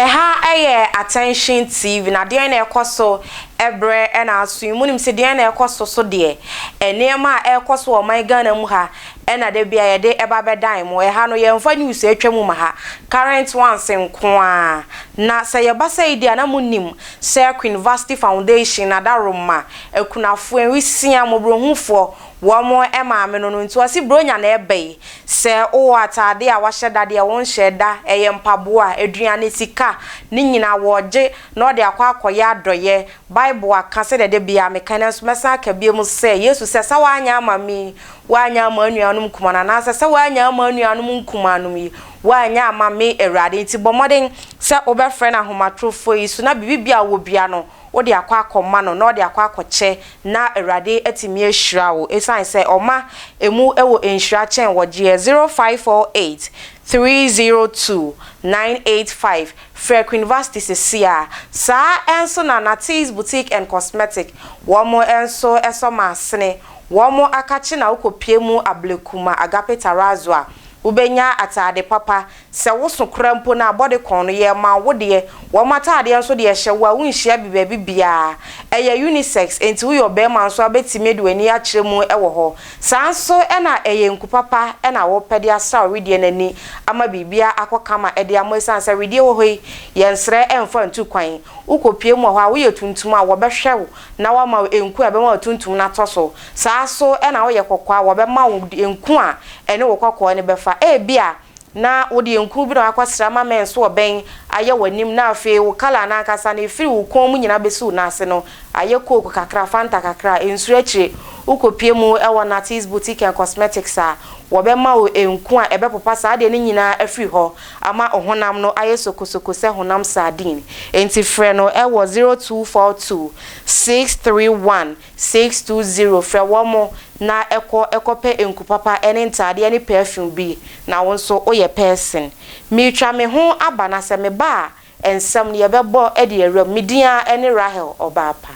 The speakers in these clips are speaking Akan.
Ɛha yɛ Attention TV, na deɛn na ɛrekɔ so berɛ na aso yi? Monim sɛ deɛn na ɛrekɔ so so deɛ? Nneɛma a ɛrekɔ so wɔ ɔman Ghana mu ha na da biara yɛde ba bɛdan mo. Ɛha no, yɛmfa news a atwam mma ha, current ones nko ara. Na sɛ yɛba sɛi deɛ a na monim. Sir Queen Vashti Foundation Adaworoma Akunafoɔ Nwisiaa Mmɔborɔhufoɔ Wɔn maame no no nti ɔse Buronya na ɛba yi Sɛ wowɔ ataadeɛ a wahyɛ da deɛ wonhyɛɛ da Ɛyɛ mpaboa, aduane, sika Ne nyinaa wɔɔgye na ɔde akɔ akɔyɛ adɔyɛ Bible aka sɛdeɛ da biaa meka nanso mɛsan aka biom sɛ Yesu sɛ sɛ woanyɛ ama me yi woanyɛ ama anuanom nkumaa no anaasɛ sɛ woanyɛ ama anuanom nkumaa nom yi Woannya amma me, Awurade, nti bɔ mmɔden sɛ wobɛfrɛ no ahomatorofoɔ yi so, na biribi biara a wɔbua no, wode akɔ akɔma no, na ɔde akɔ akɔkyɛ, na Awurade atumi ahyira wo, ɛsiane sɛ ɔma ɛmu wɔ nhyira kyɛn wɔgyeɛ. 0548 302 985 Frɛ Queen Vasti seesei ara. Saa nso na Natee's Boutique and Cosmetic, wɔn nso sɔ masene, wɔn akakye na wokɔpie mu ablekuma Agape Tarazu a, Wobɛnya ataade papa, sɛ wo so koraa mpo no abɔde kɔn no yɛ ma wo deɛ, wɔn ataadeɛ nso deɛ hyɛ wo a wonhyia bi baabi biara. Ɛyɛ unisex, enti woyɛ ɔbarima nso a wobɛtumi de w'ani akyerɛ mu wɔ hɔ. Saa nso na ɛyɛ nku papa na wopɛ de asra wo wedeɛ no ani ama biribiara akɔ kama de ama ɛsiane sɛ wedeɛ wɔ hɔ yi, yɛnsrɛ mfa ntu kwan. Wokɔpue mu wɔ hɔ a, woyɛ tuntum a wɔbɛhwɛ wo na wɔama wo nku a ɛbɛma w'atuntum no atɔ so, saa ara nso na woyɛ kɔkɔɔ a, wɔbɛma wo nku a ɛne wo kɔkɔɔ no bɛfa. Ebia na wo deɛ nkuru bi na wɔakɔsra ama mɛn nso ɔbɛn ayɛ w'anim na afei wo colour no ankasa no ɛfiri wo kɔn mu nyinaa bɛsi wo nan ase no ayɛ coke kakra, fanta kakra a, nsuro akyire wokɔpue mu wɔ Natty's Boutique and Cosmetics a, wɔbɛma wo nku a ɛbɛpopa saa adeɛ no nyinaa afiri hɔ. ama honam no ayɛ sokosoko sɛ honam sardine, enti frɛ no wɔ 0242 631 620 frɛ wɔn na kɔ kɔpɛ nku papa ne ntaadeɛ ne perfume bi na wo nso woyɛ person. Meretwa me ho aba na sɛ meba a, Nsɛm no yɛbɛbɔ de awuram. Me din ara ne Rahel ɔbaa pa.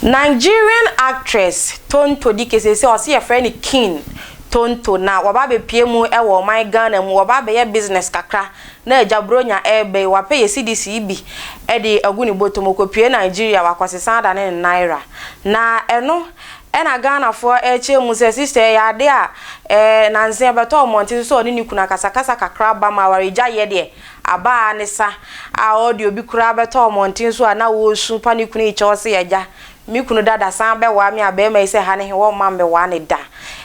Nigerian actress Tonto Dikeh seesei ɔse yɛfrɛ no King Tonto na waba abɛpue mu wɔ ɔman Ghana mu, waba abɛyɛ business kakra Na Agya Buronya reba yi, wapɛ yɛn cedis yi bi de agu ne bɔtɔ mu, ɔkɔpue Nigeria, wakɔsesa ada ne ne Naira. Na ɛno na Ghanafoɔ rekyerɛ mu sɛ sister ɛyɛ adeɛ a ɛɛ nansa bɛtɔ mmɔnten so sɛ ɔne ne kunu akasakasa kakra aba mu a awaregyaeɛ deɛ aba ara ne sa a ɔde obi koraa bɛtɔ mmɔnten so a na ɔresu pa ne kunu rekyɛ hɔ sɛ agya Me kunu dada san bɛwaa me a bɛɛma yi sɛ ha ne he wɔmma mmɛwaa ne da.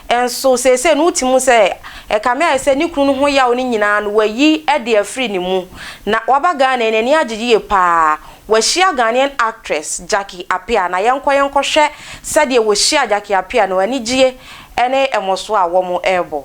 Nso seesei no wote mu sɛ ɛkame ayɛ sɛ ne kunu no ho yaw no nyinaa no wayi de afiri ne mu. Na waba Ghana yi n'ani agye yie paa. Wahyia Ghanaian actress Jackie Appiah na yɛnkɔ yɛnkɔhwɛ sɛdeɛ wɔhyiaa Jackie Appiah no anigyie ne mmɔsoɔ a wɔrebɔ.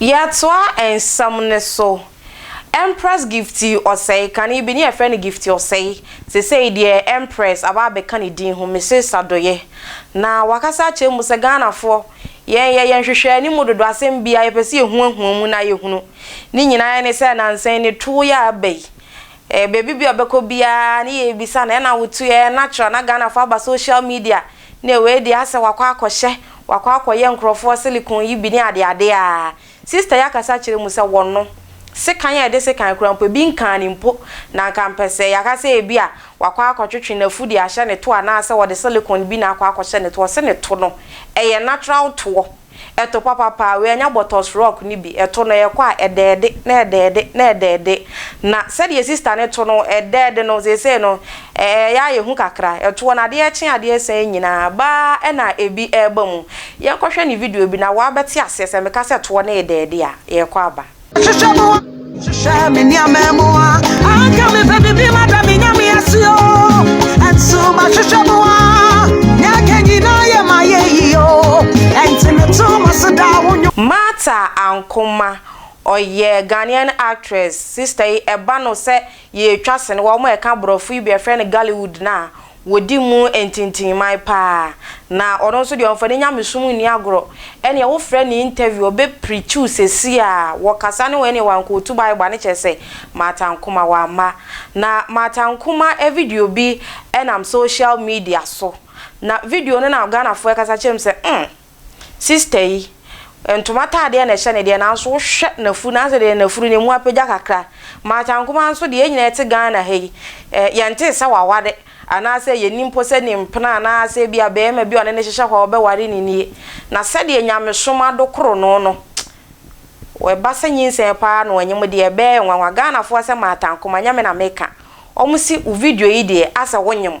Yɛtoa nsɛm no so. Empress Gifty Osei, kane bi ne yɛfrɛ no Gifty Osei, sesei deɛ Empress aba abɛka ne din ho, Mrs Sadoye. Na wakasa akyerɛ mu sɛ Ghanafoɔ, yɛn yɛ yɛn hwehwɛ anim dodo, asɛm biara yɛpɛ sɛ yɛhuahua mu na yɛhunu. Ne nyinaa ne sɛ nansa yi ne toɔ yi a aba yi, baabi biara ɔbɛkɔ biara ne yɛbisa no, ɛna wotoeɛ, natural, na Ghanafoɔ aba social media Nea wei deɛ asɛ wakɔ akɔhyɛ wakɔ akɔyɛ nkorɔfoɔ silicone yi bi ne adeade a sister yi akasa akyerɛ mu sɛ wɔno sekan a ɛde sekan koraa mpo ebi nkaa no mpo na nka mpɛ sɛ yɛaka sɛ ebi a wakɔ akɔtwetwe n'afu de ahyɛ ne to anaasɛ ɔde silicone bi na akɔ akɔhyɛ ne to ɔse ne to no ɛyɛ natural toɔ Ɛto papa paa, wei ɛnyɛ bɔtɔs rock no bi, ɛto no ɛkɔ a ɛdɛɛde na ɛdɛɛde na ɛdɛɛde, na sɛdeɛ sista no to no ɛdɛɛde no seesei no ɛyɛ a yɛhu kakra, ɛtoɔ no adeɛ kye adeɛ sa yi nyinaa baa ɛna ɛbi ɛreba mu, yɛnkɔhwɛ ne video bi na woabɛte aseɛ sɛ meka sɛ toɔ no redɛɛde a yɛrekɔ aba. Hwehwɛ mo a, hwehwɛ me nneɛma mu a. Anka mepɛ biribi ma da me nyame ase o. Ɛnso mahwehwɛ mo a, nea aka nyinaa yɛ ma yɛ yi o. Ɛnti meto mo so daa wo nnwom. Martha Ankomah, ɔyɛ Ghanaian actress, sister yi ɛba no sɛ yɛretwa sene, wɔn a ɛka borɔfo yi bi yɛfrɛ no Gollywood no a, Wɔdi mu ntintimman paa. Na ɔno nso deɛ ɔmfa ne nyamesom nni agorɔ. Ɛnneɛ wofrɛ no interview, ɔbɛpreach wo seesei a, wɔkasa ne wɔn ɛnneɛ wankɔ ɔtu Bible a, ne kyerɛ sɛ, Martha Nkomah wamma. Na Martha Nkomah video bi nam social media so. Na video no na Ghanafoɔ ɛkasa kyerɛ me sɛ, mm, Sister yi, ntoma ataadeɛ na ɛhyɛ no deɛ nanso wohwɛ n'afuru no asɛ deɛ n'afuru no emu apagya kakra. Martha Nkomaa nso deɛ yɛn nyinaa yɛte Ghana ha yi, eh, yɛntee sɛ waware anaasɛ yɛnni mpo sɛ ne mpena anaasɛ ebia barima bi a ɔne no hyehyɛ hɔ a ɔbɛware no nie. Na sɛdeɛ nyamesom adokoro no no, ɛba sɛ nyinsɛn paa na ɔnyem deɛ ɛbɛyɛ nwanwa. Ghanafoɔ asɛ Martha Nkomaa, nyɛ me na meka, wɔn se wo video yi deɛ asɛ wonyem.